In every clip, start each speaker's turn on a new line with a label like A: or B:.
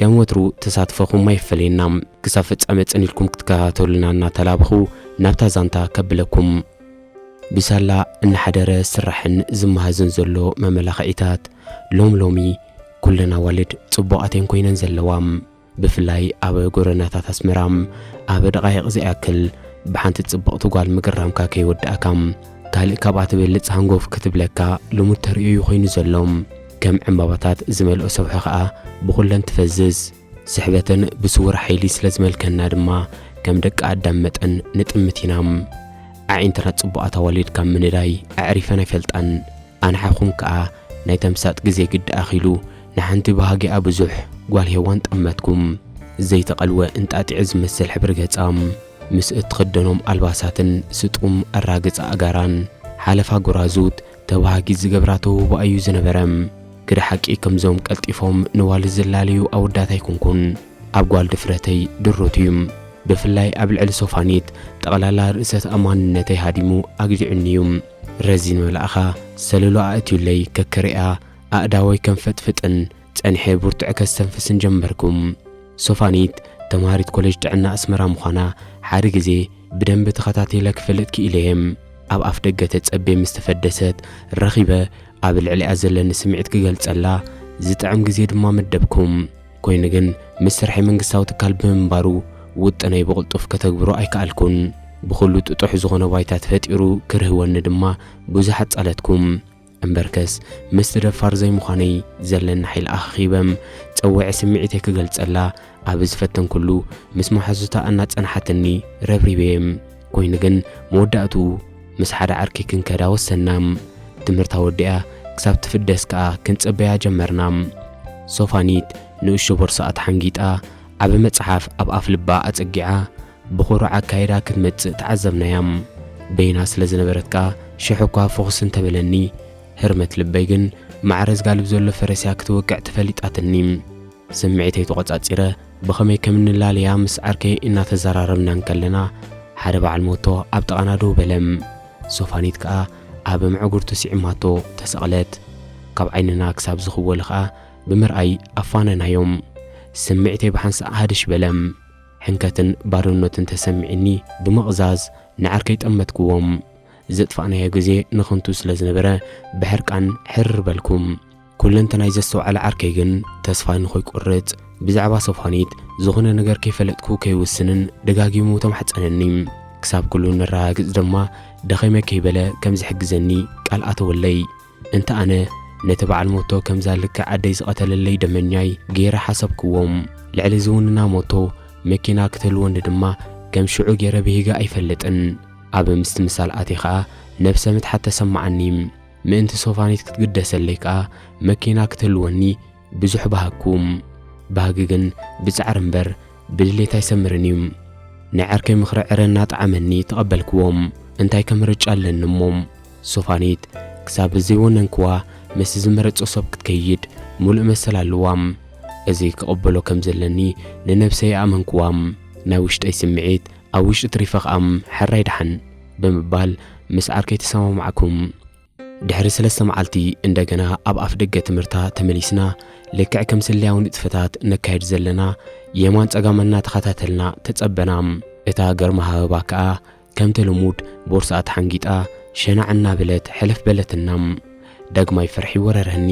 A: ከም ወትሩ ተሳትፎኹም ኣይፈለየና። ክሳብ ፍጻመ ጽን ኢልኩም ክትከታተሉና እናተላበኹ ናብታ ዛንታ ከብለኩም። ብሳላ እናሓደረ ዝስራሕን ዝመሃዝን ዘሎ መመላኽዒታት ሎም ሎሚ ኩለን ኣዋልድ ጽቡቓት እየን ኮይነን ዘለዋ። ብፍላይ ኣብ ጎደናታት ኣስመራ ኣብ ደቓይቕ ዘይኣክል ብሓንቲ ጽብቕቲ ጓል ምግራምካ ከይወዳእካ ካልእ ካብኣ ትበልጽ ሃንጎፍ ክትብለካ ልሙድ ተርእዮ እዩ ኮይኑ ዘሎ። ከም ዕምባባታት ዝመልኦ ሰብሖ ኸኣ ብኹለን ትፈዝዝ። ስሕበተን ብስውር ሓይሊ ስለ ዝመልከና ድማ ከም ደቂ ኣዳም መጠን ንጥምት ኢና። ኣዒንትና ጽቡቓት ኣዋልድ ካብ ምንዳይ ኣዕሪፈን ኣይፈልጣን። ኣንሓኹም ከኣ ናይ ተምሳጥ ግዜ ግዲ ኣኺሉ ንሓንቲ ባህጊኣ ብዙሕ ጓል ሄዋን ጠመትኩም። ዘይተቐልወ እንጣጢዕ ዝመስል ሕብሪ ገጻ ምስ እትኽደኖም ኣልባሳትን ስጡም ኣራግጻ ኣእጋራን ሓለፋ ጎራዙት ተባሃጊት ዝገብራ ተውህቦ ኣዩ ዝነበረ። ግደ ሓቂ ከምዞም ቀልጢፎም ንዋልድ ዝላለዩ ኣወዳት ኣይኮንኩን። ኣብ ጓል ድፍረተይ ድሩት እዩ። ብፍላይ ኣብ ልዕሊ ሶፋኒት ጠቕላላ ርእሰ ተኣማንነተይ ሃዲሙ ኣግዲዑኒ እዩ። ረዚን መልኣኻ ሰለሉ ኣእትዩለይ ከክርእያ ኣእዳወይ ከንፈጥፍጥን ጸኒሐ ብርቱዐ ከስተንፍስን ጀመርኩ። ሶፋኒት ተምሃሪት ኮሌጅ ጥዕና ኣስመራ ምዃና ሓደ ግዜ ብደንቢ ተኸታቲለ ክፈልጥ ክኢለ እየ። ኣብ ኣፍ ደገ ተጸቤ ምስ ተፈደሰት ረኺበ ኣብ ልዕሊኣ ዘለኒ ስምዒት ክገልጸላ ዝጥዕም ግዜ ድማ መደብኩ። ኮይኑ ግን ምስ ስርሐይ መንግስታዊ ትካል ብምንባሩ ውጥነይ ብቕልጡፍ ከተግብሮ ኣይከኣልኩን። ብኹሉ ጥጡሕ ዝኾነ ባይታ ተፈጢሩ ክርህወኒ ድማ ብዙሕ ኣጻለትኩ። እምበርከስ ምስቲ ደፋር ዘይምዃነይ ዘለኒ ሓይሊ ኣኸኺበ ጸዊዐ ስምዒተይ ክገልጸላ ኣብ ዝፈተንኩሉ ምስ መሓዙታ እናጸንሓትኒ ረብሪበየ። ኮይኑ ግን መወዳእትኡ ምስ ሓደ ዓርኪ ክንከዳ ወሰንና። ትምህርታ ወዲኣ ክሳብ ትፍደስ ከኣ ክንጽበያ ጀመርና። ሶፋኒት ንእሽቶ ቦርስኣ ተሓንጊጣ ዓቢ መጽሓፍ ኣብ ኣፍልባ ኣጸጊዓ ብኹሩዕ ኣካይዳ ክትመጽእ ተዓዘብናያ። በይና ስለ ዝነበረት ከኣ ሽሕ እኳ ፍኹስ እንተ በለኒ፣ ህርመት ልበይ ግን ማዕረ ዝጋልብ ዘሎ ፈረስ'ያ ክትወቅዕ ተፈሊጣትኒ። ስምዒተይ ተቖጻጺረ ብኸመይ ከም እንላለያ ምስ ዓርከይ እናተዘራረብና እንከለና፣ ሓደ በዓል ሞቶ ኣብ ጥቓና ደው በለ። ሶፋኒት ከኣ ኣብ ምዕጉርቱ ስዒማቶ ተሰቕለት። ካብ ዓይንና ክሳብ ዝኽወሉ ከኣ ብምርኣይ ኣፋነናዮም። ስምዒተይ ብሓንሳእ ሃድሽ በለ። ሕንከትን ባዶነትን ተሰሚዒኒ ብምቕዛዝ ንዓርከይ ጠመትክዎም። ዘጥፋእናዮ ግዜ ንኽንቱ ስለ ዝነበረ ብሕርቃን ሕርር በልኩ። ኩለንተናይ ዘስተውዓለ ዓርከይ ግን ተስፋይ ንኸይቆርጽ ብዛዕባ ሶፋኒት ዝኾነ ነገር ከይፈለጥኩ ከይውስንን ደጋጊሙ ተማሕጸነኒ። ክሳብ ኩሉ ነረጋግጽ ድማ ደኺመ ከይበለ ከም ዝሕግዘኒ ቃል ኣተወለይ። እንተ ኣነ ነቲ በዓል ሞቶ ከምዛ ልክዕ ኣደይ ዝቐተለለይ ደመኛይ ገይረ ሓሰብክዎም። ልዕሊ ዝውንና ሞቶ መኪና ክትህልወኒ ድማ ከም ሽዑ ገይረ ብሂገ ኣይፈልጥን። ኣብ ምስትምሳል ኣትየ ከኣ ነብሰ ምትሓት ተሰመዓኒ። ምእንቲ ሶፋኒት ክትግደሰለይ ከኣ መኪና ክትህልወኒ ብዙሕ በሃግኩም፣ ባህጊ ግን ብጻዕሪ እምበር ብድሌት ኣይሰምርን እዩ። ናይ ዓርከይ ምኽሪ ዕረ እናጠዓመኒ ተቐበልክዎ። እንታይ ከ ምርጫ ኣለኒ እሞ? ሶፋኒት ክሳብ ዘይወነንክዋ ምስቲ ዝመረጾ ሰብ ክትከይድ ምሉእ መሰል ኣለዋ። እዚ ክቕበሎ ከም ዘለኒ ንነብሰይ ኣእመንክዋ። ናይ ውሽጠይ ስምዒት ኣብ ውሽጢ ትሪፈ ከኣ ሐራይ ደሓን ብምባል ምስ ዓርከይ ተሰማማዕኩ። ድሕሪ ሰለስተ መዓልቲ እንደገና ኣብ ኣፍ ደገ ትምህርታ ተመሊስና ልክዕ ከም ስለያዊ ንጥፈታት ነካየድ ዘለና የማን ጸጋም እናተኸታተልና ተጸበና። እታ ገርማሃበባ ከኣ ከምቲ ልሙድ ቦርስኣ ተሓንጊጣ ሸናዕ እናበለት ሕልፍ በለትና። ዳግማይ ፍርሒ ወረረኒ።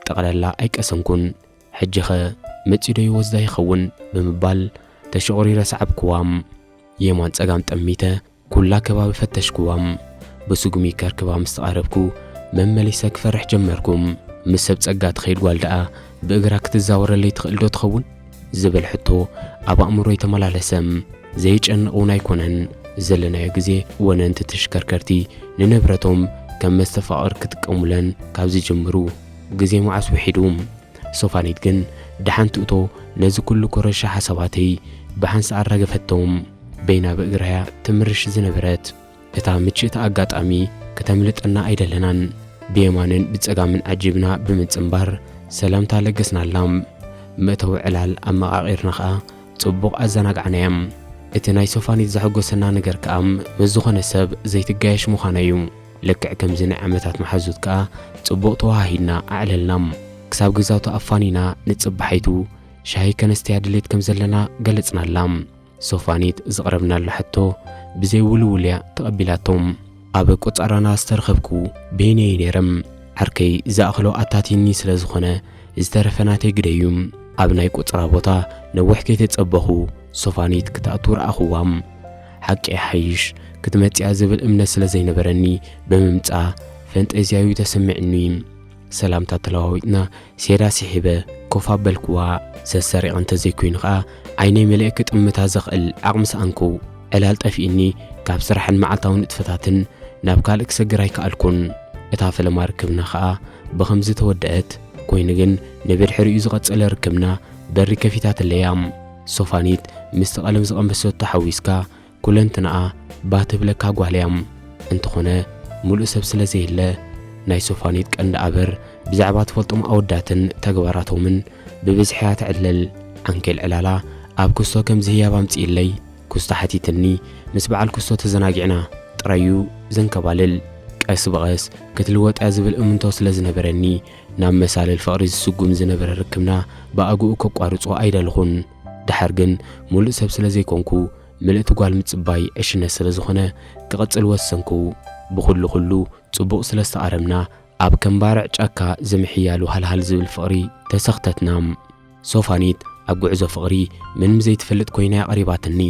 A: ጠቕለላ ኣይቀሰንኩን። ሕጂኸ መጺኡዶ ይወስዳ ይኸውን ብምባል ተሸቑሪረ ሰዓብኩዋ። የማን ጸጋም ጠሚተ ኩላ ከባቢ ፈተሽኩዋ። ብስጉሚ ከርክባ ምስ ተቓረብኩ መመሊሰ ክፈርሕ ጀመርኩ። ምስ ሰብ ጸጋ ትኸይድ ጓል ደኣ ብእግራ ክትዛወረለይ ትኽእልዶ ትኸውን? ዝብል ሕቶ ኣብ ኣእምሮይ ተመላለሰ። ዘየጨንቕ እውን ኣይኮነን። ዘለናዮ ግዜ ወነንቲ ተሽከርከርቲ ንንብረቶም ከም መስተፋቕር ክጥቀሙለን ካብ ዝጅምሩ ግዜ መዓስ ውሒዱ። ሶፋኒት ግን ደሓን ትእቶ ነዚ ኩሉ ኮረሻ ሓሳባተይ ብሓንሳእ ኣራገፈቶ። በይና ብእግራያ ትምርሽ ዝነበረት እታ ምችእቲ ኣጋጣሚ ክተምልጠና ኣይደለናን። ብየማንን ብጸጋምን ዓጂብና ብምጽንባር ሰላምታ ለገስናላም። መእተዊ ዕላል ኣመቓቒርና ከኣ ጽቡቕ ኣዘናጋዕናያም። እቲ ናይ ሶፋኒት ዘሐጎሰና ነገር ከኣ ምስ ዝኾነ ሰብ ዘይትጋየሽ ምዃና እዩ። ልክዕ ከምዚ ናይ ዓመታት መሓዙት ከኣ ጽቡቕ ተወሃሂድና ኣዕለልናም። ክሳብ ገዛውታ ኣፋኒና ንጽባሒቱ ሻሂ ከነስተያ ድሌት ከም ዘለና ገለጽናላ። ሶፋኒት ዝቕረብናላ ሕቶ ብዘይ ውልውል እያ ተቐቢላቶም። ኣብ ቆጻራና ዝተረኸብኩ በይነይ እየ ነይረ። ዓርከይ ዝኣኽሎ ኣታትዩኒ ስለ ዝኾነ ዝተረፈ ናተይ ግደ እዩ። ኣብ ናይ ቆጽራ ቦታ ነዊሕ ከይተጸበኹ ሶፋኒት ክትኣቱ ረኣኹዋ። ሓቂ ይሓይሽ ክትመጽያ ዝብል እምነት ስለ ዘይነበረኒ ብምምጻ ፈንጠዝያ እዩ ተሰሚዑኒ። ሰላምታ ተለዋዊጥና ሴዳ ስሒበ ኮፍ ኣበልክዋ። ሰሰሪቐ እንተዘይኮይኑ ከኣ ዓይነይ መሊኤ ክጥምታ ዘኽእል ዓቕሚ ሰኣንኩ። ዕላል ጠፊኡኒ ካብ ስራሕን መዓልታዊ ንጥፈታትን ናብ ካልእ ክሰግር ኣይከኣልኩን። እታ ፈለማ ርክብና ከኣ ብኸምዚ ተወደኣት። ኮይኑ ግን ንብድሕሪኡ ዝቐጸለ ርክብና በሪ ከፊታትለይ እያ። ሶፋኒት ምስቲ ቀለም ዝቐመስቶ ሓዊስካ ኩለንትናኣ ባህ ትብለካ ጓል እያ። እንተኾነ ሙሉእ ሰብ ስለ ዘየለ ናይ ሶፋኒት ቀንዲ ኣበር ብዛዕባ ትፈልጦም ኣወዳትን ተግባራቶምን ብብዝሒ እያ ትዕልል። ዓንኬል ዕላላ ኣብ ኩስቶ ከምዚ ህያብ ኣምጽኢለይ ኩስቶ ሓቲትኒ ምስ በዓል ኩስቶ ተዘናጊዕና ጥራይ እዩ ዘንከባልል። ቀስ ብቐስ ክትልወጥ እያ ዝብል እምንቶ ስለ ዝነበረኒ ናብ መሳልል ፍቕሪ ዝስጉም ዝነበረ ርክብና ብኣግኡ ከቋርጾ ኣይደለኹን። ደሓር ግን ሙሉእ ሰብ ስለ ዘይኮንኩ ምልእቲ ጓል ምጽባይ ዕሽነት ስለ ዝኾነ ክቕጽል ወሰንኩ። ብኹሉ ኹሉ ጽቡቕ ስለ ዝተቓረብና ኣብ ከም ባርዕ ጫካ ዝምሕያሉ ሃልሃል ዝብል ፍቕሪ ተሰኽተትና። ሶፋኒት ኣብ ጉዕዞ ፍቕሪ ምንም ዘይትፈልጥ ኮይና እያ ቀሪባትኒ።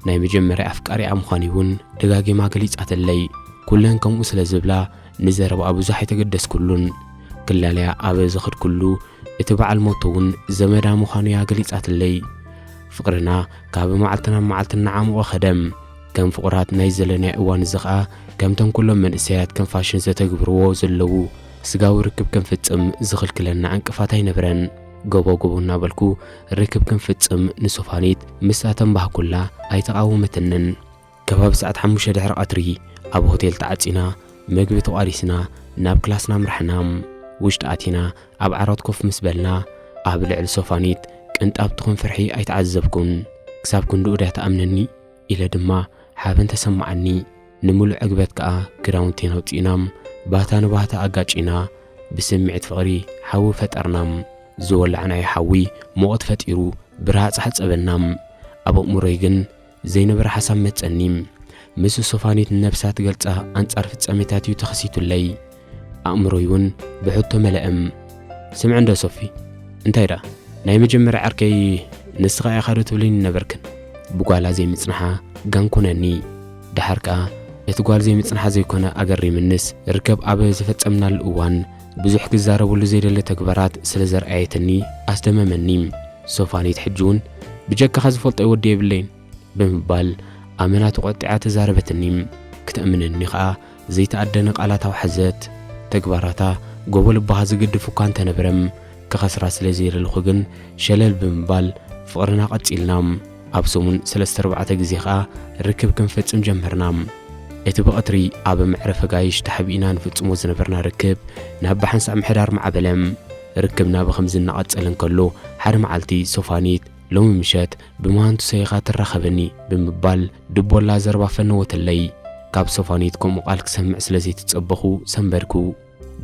A: ናይ መጀመርያ ኣፍቃሪኣ ምዃንይ ውን ደጋጊማ ገሊጻትለይ። ኩለን ከምኡ ስለ ዝብላ ንዘረባኣ ብዙሕ ኣይተገደስኩሉን። ክላለያ ኣብ ዝኸድኩሉ እቲ በዓል ሞቶ እውን ዘመዳ ምዃኑ እያ ገሊጻትለይ። ፍቕርና ካብ መዓልቲ ናብ መዓልቲ እናዓሞቐ ኸደ። ከም ፍቑራት ናይ ዘለናዮ እዋን እዚ ኸኣ ከምቶም ኩሎም መንእሰያት ከም ፋሽን ዘተግብርዎ ዘለዉ ስጋዊ ርክብ ክንፍጽም ዝኽልክለና ዕንቅፋት ኣይነበረን። ጎቦ ጎቦ እናበልኩ ርክብ ክንፍጽም ንሶፋኒት ምስ ኣተንባህኩላ ኣይተቓወመትንን። ከባቢ ሰዓት ሓሙሽተ ድሕሪ ቐትሪ ኣብ ሆቴል ተዓጺና መግቢ ተቋሪስና ናብ ክላስና ኣምራሕና። ውሽጢ ኣቲና ኣብ ዓራት ኮፍ ምስ በልና ኣብ ልዕሊ ሶፋኒት ቅንጣብ ትኹን ፍርሒ ኣይተዓዘብኩን። ክሳብ ክንድኡ ድያ ትኣምነኒ? ኢለ ድማ ሓበን ተሰማዓኒ። ንምሉእ ዕግበት ከኣ ክዳውንቴን ኣውጺእና ባታ ንባታ ኣጋጪና ብስምዒት ፍቕሪ ሓዊ ፈጠርና። ዝወላዕናዮ ሓዊ ሙቐት ፈጢሩ ብረሃጽ ሓጸበና። ኣብ ኣእምሮይ ግን ዘይነበረ ሓሳብ መጸኒ። ምስ ሶፋኒት ነብሳ ትገልጻ ኣንጻር ፍጻሜታት እዩ ተኸሲቱለይ። ኣእምሮይ እውን ብሕቶ መለእም። ስምዕ እንዶ ሶፊ፣ እንታይ ደኣ ናይ መጀመርያ ዕርከይ ንስኻ ኢኻ ዶ ትብልኒ ነበርክን? ብጓላ ዘይምጽንሓ ጋንኩነኒ። ደሓር ከኣ እቲ ጓል ዘይምጽንሓ ዘይኮነ ኣገሪምንስ ርከብ ኣብ ዘፈጸምናሉ እዋን ብዙሕ ክዛረበሉ ዘይደሊ ተግባራት ስለ ዘርኣየትኒ ኣስደመመኒ። ሶፋንየት ሕጂውን ብጀካኻ ዝፈልጦይ ወዲ የብለይን ብምባል ኣመና ተቖጢዓ ተዛረበትኒ። ክተእምነኒ ከኣ ዘይተኣደነ ቃላት ኣውሓዘት። ተግባራታ ጎቦ ልብኻ ዝግድፍ እኳ እንተነበረም፣ ክኸስራ ስለ ዘይደለኹ ግን ሸለል ብምባል ፍቕርና ቀጺልና። ኣብ ሰሙን ሰለስተ ኣርባዕተ ግዜ ኸኣ ርክብ ክንፈጽም ጀመርና። እቲ ብቐትሪ ኣብ መዕረፊ ኣጋይሽ ተሓቢእና ንፍጽሞ ዝነበርና ርክብ ናብ ብሓንሳእ ምሕዳር ማዕበለ። ርክብና ብኸምዚ እናቐጸለ እንከሎ ሓደ መዓልቲ ሶፋኒት ሎሚ ምሸት ብመሃንቱሰይ ኢኻ ትራኸበኒ ብምባል ድቦላ ዘረባ ፈነወትለይ። ካብ ሶፋኒት ከምኡ ቃል ክሰምዕ ስለ ዘይተጸበኹ ሰንበድኩ።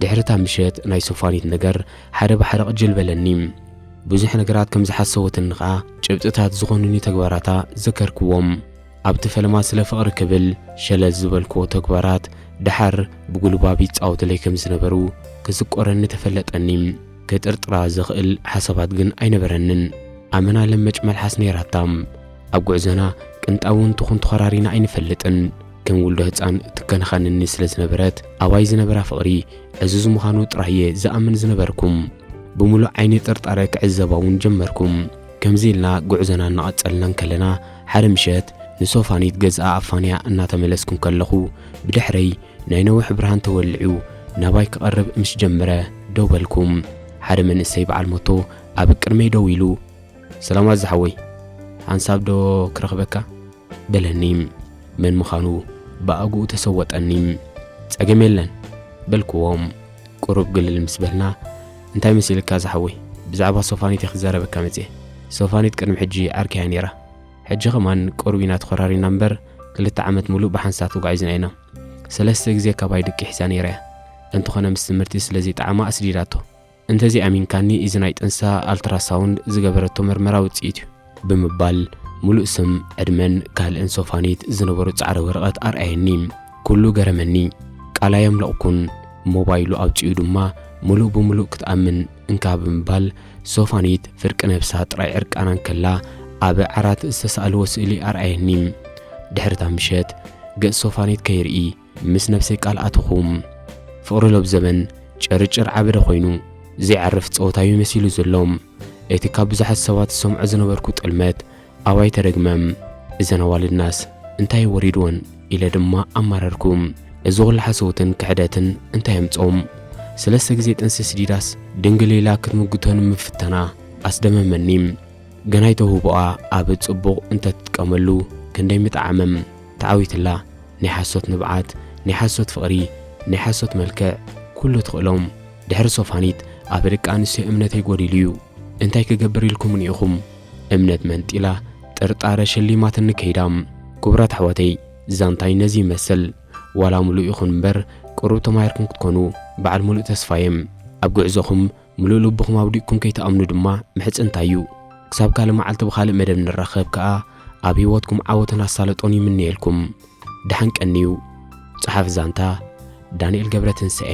A: ድሕሪ እታ ምሸት ናይ ሶፋኒት ነገር ሓደ ብሓደ ቅጅል በለኒ። ብዙሕ ነገራት ከም ዝሓሰወትኒ ከኣ ጭብጥታት ዝኾኑኒ ተግባራታ ዘከርክዎም። ኣብቲ ፈለማ ስለ ፍቕሪ ክብል ሸለል ዝበልክዎ ተግባራት ደሓር ብጉልባብ ይጻወቱለይ ከም ዝነበሩ ክስቆረኒ ተፈለጠኒ። ክጥርጥራ ዘኽእል ሓሳባት ግን ኣይነበረንን። ኣመና ለመጭ መልሓስ ነይራታ። ኣብ ጉዕዞና ቅንጣብውን ትኹን ተኾራሪና ኣይንፈልጥን። ከም ውልዶ ህጻን ትከናኸነኒ ስለ ዝነበረት ኣባይ ዝነበራ ፍቕሪ ዕዙዝ ምዃኑ ጥራይ እየ ዝኣምን ዝነበርኩም። ብምሉእ ዓይኒ ጥርጣረ ክዕዘባ እውን ጀመርኩም። ከምዚ ኢልና ጉዕዞና እናቐጸልና እንከለና ሓደ ምሸት ንሶፋኒት ገዝኣ ኣፋንያ እናተመለስኩ እንከለኹ ብድሕረይ ናይ ነውሒ ብርሃን ተወሊዑ ናባይ ክቐርብ ምስ ጀመረ ደው በልኩ። ሓደ መንእሰይ በዓል ሞቶ ኣብ ቅድመይ ደው ኢሉ ሰላማት ዝሓወይ ሓንሳብ ዶ ክረኽበካ በለኒ መን ምዃኑ ብኣግኡ ተሰወጠኒ ጸገም የለን በልክዎ ቁሩብ ግልል ምስ በልና እንታይ መሲልካ ዝሓወይ ብዛዕባ ሶፋኒት ክዛረበካ መጽየ ሶፋኒት ቅድሚ ሕጂ ዓርኪያ ነይራ ሕጂ ከማን ቁሩብ ኢና ተኾራሪና እምበር ክልተ ዓመት ሙሉእ ብሓንሳብ ተጓዒዝና ኢና ሰለስተ ግዜ ካባይ ድቂ ሒዛ ነይራ እያ እንተኾነ ምስ ትምህርቲ ስለዚ ጣዕማ ኣስዲዳቶ እንተዘይኣሚንካኒ እዚ ናይ ጥንሳ ኣልትራሳውንድ ዝገበረቶ መርመራ ውጽኢት እዩ። ብምባል ሙሉእ ስም፣ ዕድመን ካልእን ሶፋኒት ዝነበሮ ጻዕዳ ወረቐት ኣርኣየኒ። ኩሉ ገረመኒ። ቃል ኣየምለቕኩን። ሞባይሉ ኣውጺኡ ድማ ሙሉእ ብሙሉእ ክትኣምን እንካ ብምባል ሶፋኒት ፍርቂ ነብሳ ጥራይ ዕርቃና እንከላ ኣብ ዓራት ዝተሳእልዎ ስእሊ ኣርኣየኒ። ድሕሪ እታ ምሸት ገጽ ሶፋኒት ከይርኢ ምስ ነብሰይ ቃል ኣተኹም። ፍቕሪ ሎብ ዘበን ጭርጭር ዓበደ ኮይኑ ዘይዓርፍ ጸወታዩ መሲሉ ዘሎ። እቲ ካብ ብዙሓት ሰባት ዝሰምዖ ዝነበርኩ ጥልመት ኣባይ ተደግመም። እዘን ኣዋልድናስ እንታይ ወሪድወን ኢለ ድማ ኣማረርኩ። እዚ ኹሉ ሓሶትን ክሕደትን እንታይ ኣምጾም? ስለስተ ግዜ ጥንሲ ስዲዳስ ድንግል ኢላ ክትምጉቶ ንምፍታና ኣስደመመኒ። ገናይ ተውህቦኣ ኣብ ጽቡቕ እንተትጥቀመሉ ክንደይ ምጠዓመም። ተዓዊትላ ናይ ሓሶት ንብዓት ናይ ሓሶት ፍቅሪ ናይ ሓሶት መልክዕ ኩሉ ትክእሎም ድሕሪ ሶፋኒት ኣበ ደቂ ኣንስትዮ እምነተይ ጎዲሉ እዩ እንታይ ክገብር ኢልኩምኒ ኢኩም እምነት መንጢላ ጥርጣረ ሸሊማትኒ ከይዳ። ክቡራት ኣሕዋተይ ዛንታይ ነዚ ይመስል ዋላ ሙሉእ ይኩን እምበር ቅሩብ ተማሂርኩም ክትኮኑ በዓል ሙሉእ ተስፋ እየ ኣብ ጉዕዞኩም ምሉእ ልብኹም ኣውዲቕኩም ከይትኣምኑ ድማ ምሕጽንታይ እዩ። ክሳብ ካልእ መዓልቲ ብኻልእ መደብ ንራኸብ ከኣ ኣብ ህይወትኩም ዓወትን ኣሳልጦን ይምነየልኩም። ደሓን ቀንዩ። ጸሓፊ ዛንታ ዳንኤል ገብረትንሳኤ